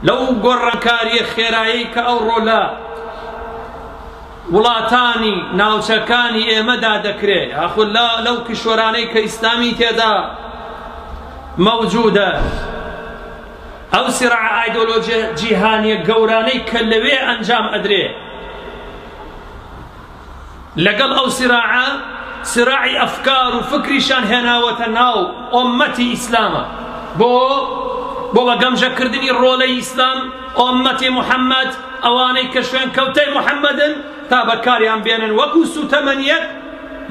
لەو گۆڕانکاریە خێرایی کە ئەو ڕۆلە وڵاتانی ناوچەکانی ئێمەدا دەکرێت یاخود لەو کیشوەرانەی کە ئیسلامی تێدا مەوجودە ئەو سرع ئایدۆلۆژیە جیهانیە گەورانەی کە لەوێ ئەنجام ئەدرێ لەگەڵ ئەو سراعە سراعی ئەفکار و فکریشان هێناوەتە ناو ئۆمەتی ئیسلامە بۆ بۆ بە گەمژەکردنی ڕۆلەی ئیسلام ئۆمەتی محەممەد ئەوانەی کە شوێن کەوتەی محەممەدن تا بەکاریان بێنن وەکو سوتەمەنیەت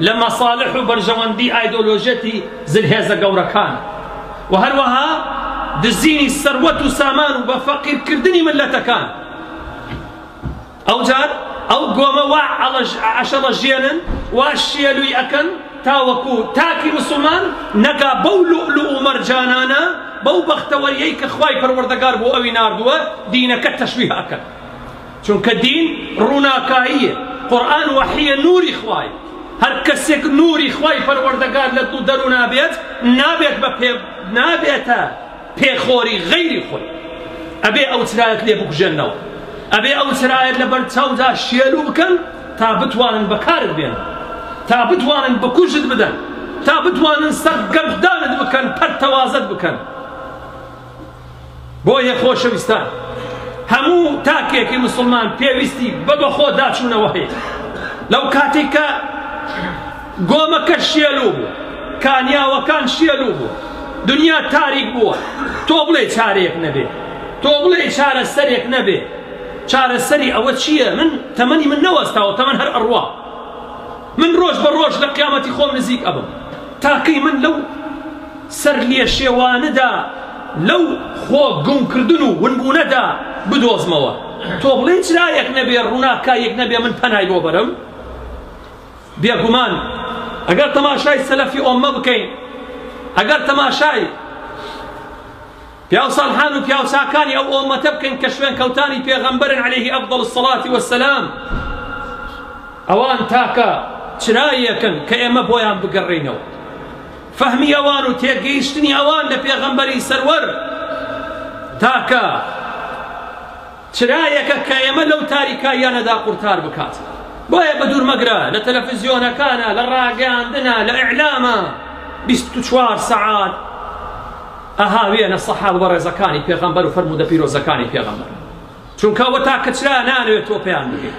لە مەساالح و بەرژەوەندی ئایدۆلۆژێتی زلهێزە گەورەکان و هەروەها دزینی سەروەت و سامان و بە فەقیرکردنی ملەتەکان ئەوجار ئەو گۆمە وا ئەشەڵەژێنن، وا شێلووی ئەکەن تاوەکوو تاکی موسڵمان نەگا بەو لوئلوئ و مەرجانانە، بەو بەختەوەرییەی کە خوای پەروەردگار بۆ ئەوی ناردووە، دینەکە تەشویه ئەکەن. چونکە دین ڕووناکاییە، قورئان وەحییە نووری خوایە. هەر کەسێک نووری خوای پەروەردگار لە دڵ و دەروونا بێت، نابێت بە پێ نابێتە. پێخۆری غەیری خۆی ئەبێ ئەو چرایەت لێ بکوژێنەوە ئەبێ ئەو چرایەت لە بەر چاودا شێلو بکەن تا بتوانن بەکارت بێن تا بتوانن بکوژت بدەن تا بتوانن سەر گەردانت بکەن پەرتەوازت بکەن بۆیە خۆشەویستان هەموو تاکێکی مسلمان پێویستی بە بەخۆ داچوونەوە هەیە لەو کاتێک کە گۆمەکە شێلوو بوو، کانیاوەکان شێلوو بوون، دنیا تاریک بووە، تۆ بڵێی چارەیەک نەبێ، تۆ بڵێی چارەسەرێک نەبێ، چارەسەری ئەوە چییە؟ من تەمەنی من نەوەستاوە، تەمەن هەر ئەڕوا، من ڕۆژ بە ڕۆژ لە قیامەتی خۆم نزیک ئەبم، تا کەی من لەو سەرلێشێوانەدا، لەو خۆ گومکردن و ونبوونەدا بدۆزمەوە؟ تۆ بڵێی چرایەک نەبێ، ڕووناکاییەک نەبێ من پەنای بۆ بەرم؟ بێگومان ئەگەر تەماشای سەلەفی ئۆممە بکەین، ئەگەر تەماشای پیاوساڵحان و پیاوچاکانی ئەو ئۆممەتە بکەین کە شوێنکەوتانی پێغەمبەرن عەلەیهی ئەفدەڵ الصڵاتی وەسەلام، ئەوان تاکە چرایەکن کە ئێمە بۆیان بگەڕێینەوە. فەهمی ئەوان و تێگەیشتنی ئەوان لە پێغەمبەری سەروەر تاکە چرایەکە کە ئێمە لەو تاریکاییانەدا قورتار بکات. بۆیە بەدوور مەگرە لە تەلەفزیۆنەکانە، لە ڕاگەیاندنە، لە ئیعلامە بیست و چوار سەعات ئەهاوێنە سەحابە بەڕێزەکانی پێغەمبەر و فەرموودە پیرۆزەکانی پێغەمبەر، چونکە ئەوە تاکە چرایە نانەوێت تۆ پێیان بگەیت.